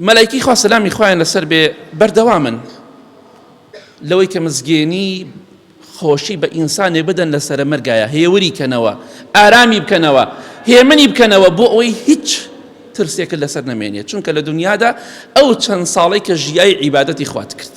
مەلایکەی خوا سەلامی خوایان لەسەر بێ بەردەوامن لەوەی کە مزگێنی خۆشی بە ئینسانێ بدەن لە سەرە مەرگایە هێوری کەنەوە ئارامی بکەنەوە هێمنی بکەنەوە بۆ ئەوەی هیچ ترسێکە لەسەر نەمێنێت چونکە لە دنیادا ئەو چەند ساڵێک کە ژیای عیبادەتی خوات کرد.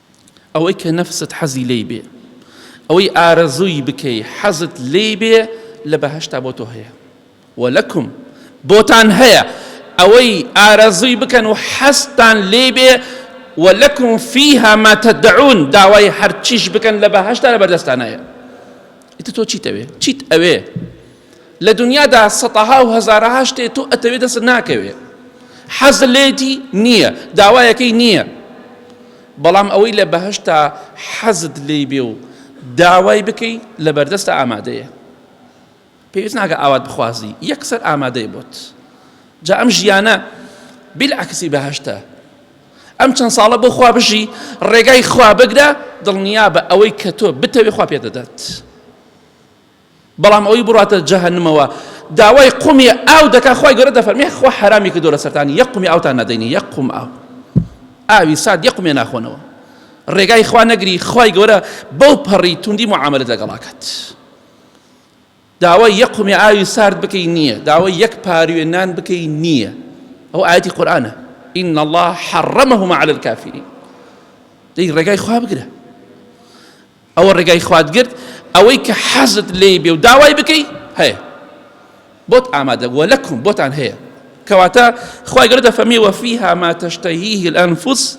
ئەوەی کە نەفست حەزی لێی بێ ئەوەی ئارەزووی بکەی حەزت لێی بێ لە بەهەشتا بۆ تۆ هەیە و لەکم بۆتان هەیە ئەوەی ئارەزووی بکەن و حەزتان لێی بێ و لەکم فیها ما تدعون داوای هەرچیش بکەن لە بەهەشتا لە بەردەستانایە ئیتر تۆ چیت ئەوێ چیت ئەوێ لە دنیادا سەتەها و هەزارەها شتێ تۆ ئەتەوێ دەست ناکەوێ حەز لێتی نییە داوایەکەی نییە بەڵام ئەوەی لە بەهشتا حەزت لی بێ و داوای بکەی لە بەردەستە ئامادەیە پێویست ناکە ئاوات بخوازی یەکسەر ئامادەی بۆت جا ئەم ژیانە بیلعکسی بەهشتە ئەم چەند ساڵە بۆ خوا بژی ڕێگای خوا بگرە دڵنیا بە ئەوەی کە تۆ بتەوێ خوا پێ دەدات بەڵام ئەوەی بڕواتە جەهەنمەوە داوای قومی ئاو دەکات خوای گەورە دەفەرمێ خوا حەرامی کردو لەسەرتان یەک قومی ئاوتان نادەینی یەک قوم ئاو ئاوی سارد یەک قومێ ناخۆنەوە ڕێگای خوا نەگری خوای گەورە بەو پەڕی توندی معاملت لەگەڵاکات داوای یەک قومی ئاوی سارد بکەی نییە داوای یەک پاروێ نان بکەی نییە ئەو ئاەتی قورآانە إن الله حرمهما على الكافرين دەی ڕێگای خوا بگرە ئەوە ڕێگای خوات گرت ئەوەی کە حەزت لێی بێ و داوای بکەی هەیە بۆت ئامادە بووە لەکم بۆتان هەیە کەواتە خی گەورە دەفەرمی وەفیها ما تشتهیه الانفس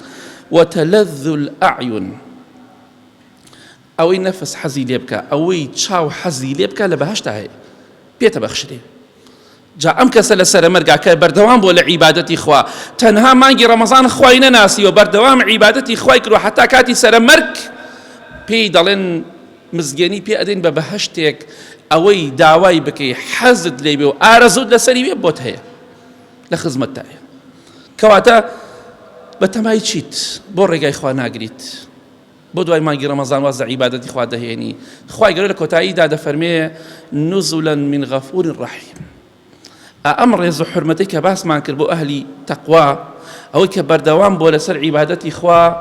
وتلذ الاعین ئەوەی نەفس حەزی لێ بکە ئەوەی چاو حەزی لێ بکە لە بەهشتا هەیە پێتە بەخشرێ جا ئەم کەسە لە سەرەمەرگا کە بەردەوام بووە لە عیبادەتی خوا تەنها مانگی ڕەمەزان خوای نەناسیوە بەردەوام عیبادەتی خوای کردوە حەتا کاتی سەرەمەرگ پێی دەڵێن مزگێنی پێ ئەدەین بە بەهشتێک ئەوەی داوای بکەی حەزت لێ بێ و ئارەزوت لەسەری وێ بۆت هەیە لە خزمەتدایە کەواتە بە تەمای چیت بۆ ڕێگای خوا ناگریت بۆ دوای مانگی ڕەمەزان واز لە عیبادەتی خوا دەهێنی خوای گەورە لە کۆتاییدا دەفەرمێ نزلا من غفور رحیم ئەم ڕێز و حرمەتی کە باسمان کرد بۆ ئەهلی تەقوا ئەوەی کە بەردەوام بۆ لەسەر عیبادەتی خوا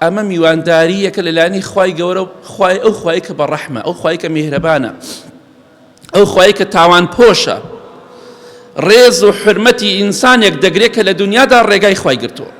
ئەمە میوانداریەکە لەلانی خی گەورە خی ئەو خی کە بە ڕەحمە ئەو خی کە میهرەبانە ئەو خی کە تاوان پۆشە ڕێز و حرمەتی ئینسانێک دەگرێت کە لە دنیادا ڕێگای خی گرتووە